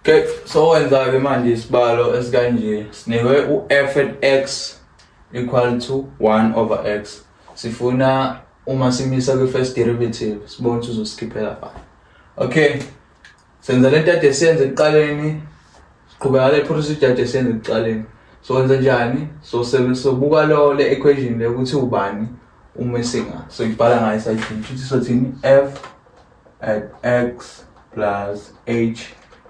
Okay, so wenza-ke manje isibalo esikanje sinikwe u-f and x equal to 1 over x sifuna uma simisa kwi-first derivative sibone ukuthi uzosikhiphela pha okay senza le nto ade siyenze ekuqaleni siqhubeka le procedure ade siyenze ekuqaleni so wenza njani so sobuka lo le equation le ukuthi ubani uma esinga so ibhala ngayo isayidini futhi sothini f at x plus h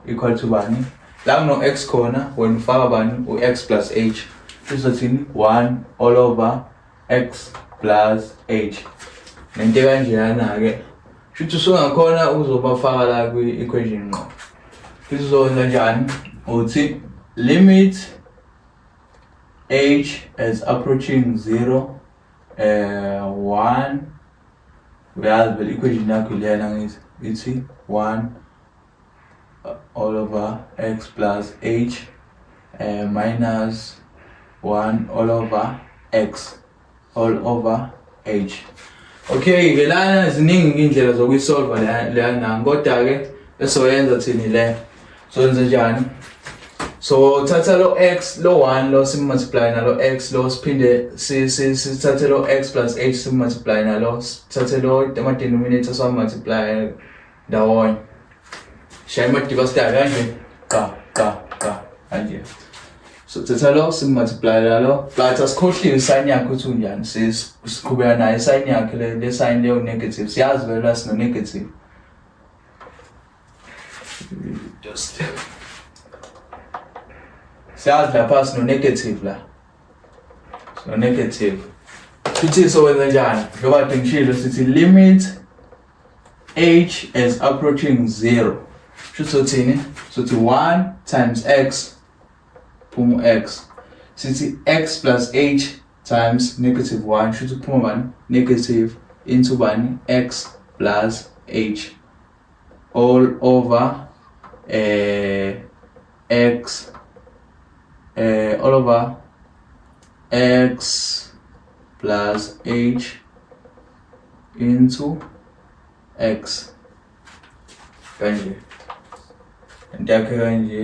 equal to bani la kuno-x khona wena ufaka bani u-x plus h izothini 1 all over x plus h nento kanjeyana-ke shuthi usungakhona ukuzobafaka la kwi-equation ngqo isizokwenza njani uthi limit h as approaching 0 uh, eh, 1 uyazi vele equation yakho ilena ngithi ithi 1 uh, all over x plus h uh, minus 1 all over x all over h okay ke lana ziningi indlela zokuyisolva leyana kodwa ke esoyenza thini le so yenze njani so thatha lo x lo 1 lo simultiply nalo x lo siphinde sithathe lo x plus h simultiply nalo sithathe lo ama denominator so multiply ndawonye shaya amadiba sida kanje qa qa qa kanje so thatha lo simultiply nalo but asikhohliwe sign yakhe ukuthi unjani siqhubeka naye sign yakhe le sign leyo negative siyazi vele sino negative Just siyazi lapha sino negative la sino negative sithi sowenza njani njengoba dingishilo sithi limit h as approaching 0 sho sothini sothi 1 times x phuma x sithi x plus h times negative 1 sho ukuthi kuphuma bani negative into bani x plus h all over eh x eh all over x plus h into x kanje into yakhe kanje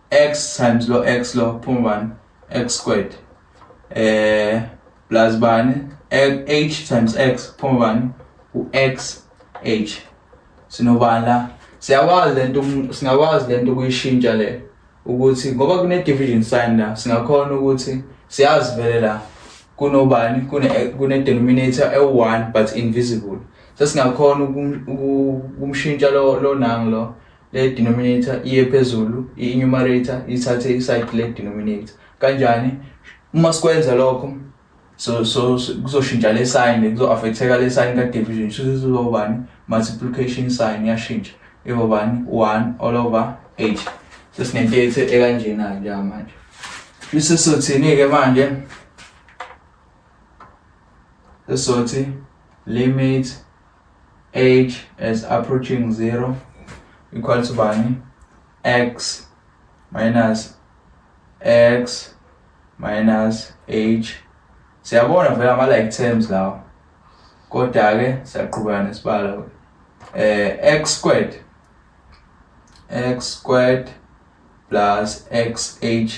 x times lo x lo phuma bani x squared eh plus bani h times x phuma bani u x h sinobani la siyakwazi lento um, singakwazi lento ukuyishintsha le ukuthi ngoba kune division sign la singakhona ukuthi siyazi vele la kunobani kune kune denominator e1 but invisible sesingakhona ukumshintsha lo lo nang lo Le denominator iye phezulu, i-numerator ithathe iside le denominator. Kanjani? Uma sikwenza lokho so so kuzoshintsha le sign kuzo-affecteka le sign ka-division shuthi sizobani multiplication sign yashintsha ibobani 1 all over 8 sesinento yethu ekanjena-ke njengamanje bese sothini-ke manje esothi limit age as approaching 0 equal to bani x minus x minus h siyabona vele ama like terms lawa kodwa ke siyaqhubeka nesibalo eh x squared x squared plus xh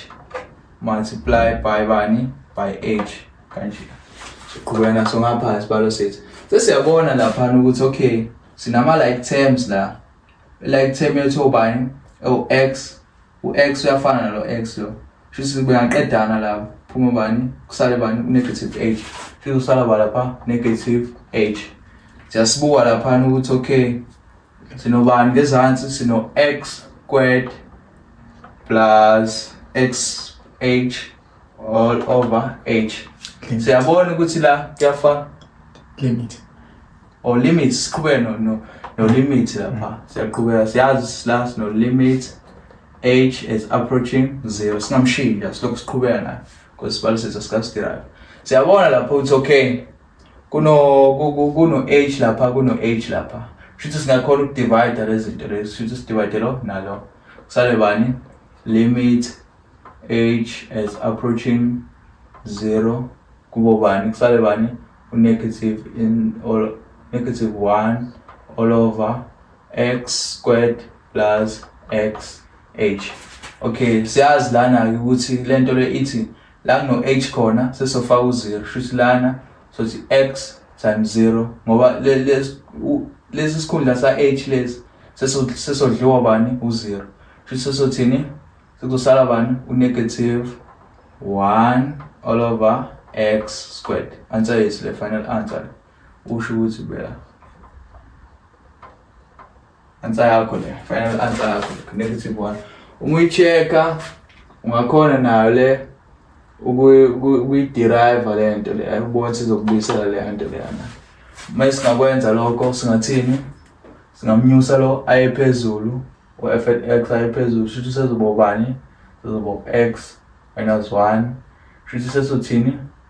multiply by bani by h kanje siqhubeka naso ngapha isibalo sethu sesiyabona laphana ukuthi okay sinama like terms la like term yethu obani o-x u-x uyafana nalo x lo shuthi kuyaqedana lapho phuma bani kusale bani u-negative h shuthi kusala ba lapha negative h siyasibuka laphana ukuthi okay Sinobani ngezansi sino x squared plus x h all over h. Siyabona ukuthi la kuyafana limit or limit siqhubeke no no, no limit lapha. Mm. Siyaqhubeka siyazi la sino limit h is approaching 0 singamshintsha silokhu siqhubeka nayo because sibalisisa sikasidirayo. Siyabona lapho ukuthi okay kuno kuno age lapha kuno age lapha shuthi singakhona ukudivide lezinto lezi shuthi sidivide lo nalo kusale bani limit age as approaching zero kubo bani kusale bani unegative in all negative 1 all over x squared plus x h okay siyazi lana ukuthi lento le ithi la kuno h khona sesofaka u-0 shuthi lana sothi x times 0 ngoba lesi sikhundla sa-h lesi sesodliwa bani u-0 shuthi sesothini sekuzosala bani u-negative 1 all over x squared answer yethu le final answer usho ukuthi bela Answer yakho le. Final answer yakho. Negative one. Uma uyichecka ungakhona nayo le ukuyiderive le nto le ayibona sizokubuyisela le nto leyana uma singakwenza lokho singathini singamnyusa lo aye phezulu u-f at x aye phezulu shuthi sezobobani sezobo x minus one shuthi sesothini